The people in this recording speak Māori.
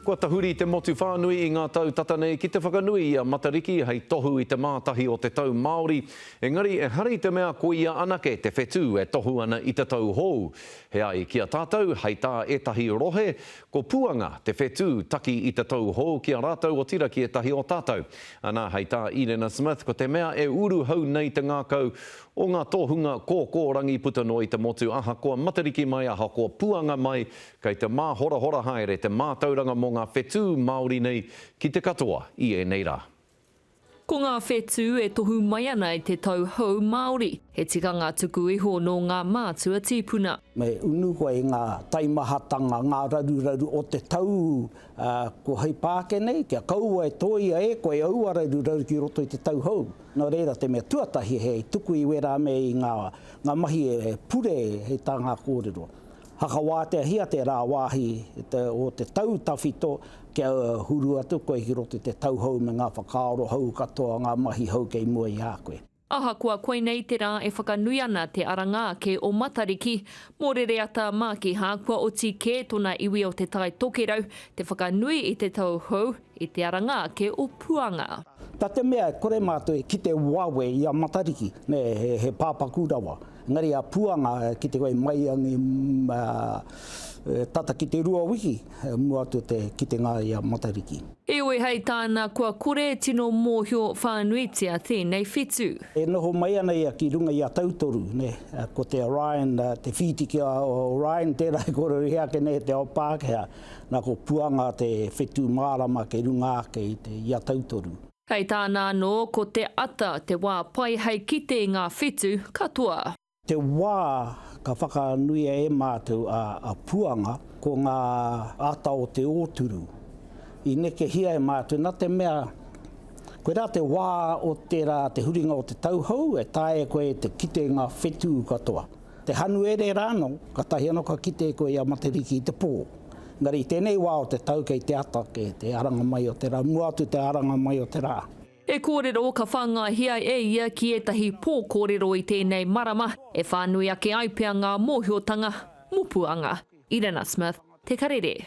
Kua tahuri te motu whānui i ngā tau tata nei ki te whakanui i a Matariki hei tohu i te mātahi o te tau Māori, engari ehara i te mea ko ia anake te whetū e tohu ana i te tau hou. He ai ki a tātou, hei tā ētahi rohe, ko Puanga te whetū taki i te tau hou ki a rātou otirā ki ētahi o tātou. Anā, hei tā Irena Smith, ko te mea e uru hou nei te ngākau o ngā tohunga kōkōrangi puta noa i te motu ahakoa Matariki mai, ahakoa Puanga mai, Kei te māhorahora haere te mātauranga mō ngā whetū Māori nei ki te katoa i ēnei rā. Ko ngā whetū e tohu mai ana i te tau hou Māori, he tikanga tuku iho nō ngā mātua tīpuna. Me unu koe i ngā taimahatanga, ngā raruraru o te tau kua hei pā ake nei, kia kaua e tōia e koe aua raruraru ki roto i te tau hou. Nō reira, te mea tuatahi he tuku i wērā me i ngā mahi e pure hei tā ngā kōrero. Whakawāteahia te rāwāhi o te tau tawhito kia huru atu koe ki roto i te tau hou me ngā whakaaro hou katoa, ngā mahi hou kei mua i a koe. Ahakoa koinei te rā e whakanui ana te aranga ake o Matariki mō Rereata Mākiha, kua oti kē tōna iwi o Te Tai Tokerau te whakanui i te tau hou, i te aranga ake o Puanga. Na te mea e kore mātou e kite wawe i a Matariki, he pāpaku rawa. Engari a Puanga, ki te whai maiangi tata ki te rua wiki mua atu o te kitenga i a Matariki. Heoi hei tāna kua kore e tino mōhio whānuitia tēnei whitu. E noho mai ana ia ki runga i a Tautoru, ko te Orion, te whiti ki a Orion tērā i kōrero i hea ake nei e te ao Pākehā, nā ko Puanga te whetū mārama kei runga ake i a Tautoru. Kei tāna anō ko te ata te wā pai hei kite i ngā whetū katoa. Te wā ka whakanuia e mātou a Puanga ko ngā ata o te ōturu. I nekehia e mātou nā te mea koirā te wā o tērā te huringa o te tauhou e taea e koe te kite i ngā whetū katoa. Te Hanuere rānō, katahi anō ka kite koe i a Matariki i te pō. Engari i tēnei wā o te tau kei te ata ake te aranga mai o te rā, mua atu te aranga mai o te rā. E kōrero ka whāngaihia e ia ki ētahi pō kōrero i tēnei marama e whānui ake ai pea ngā mōhiotanga, mopuanga. Irena Smith, Te Karere.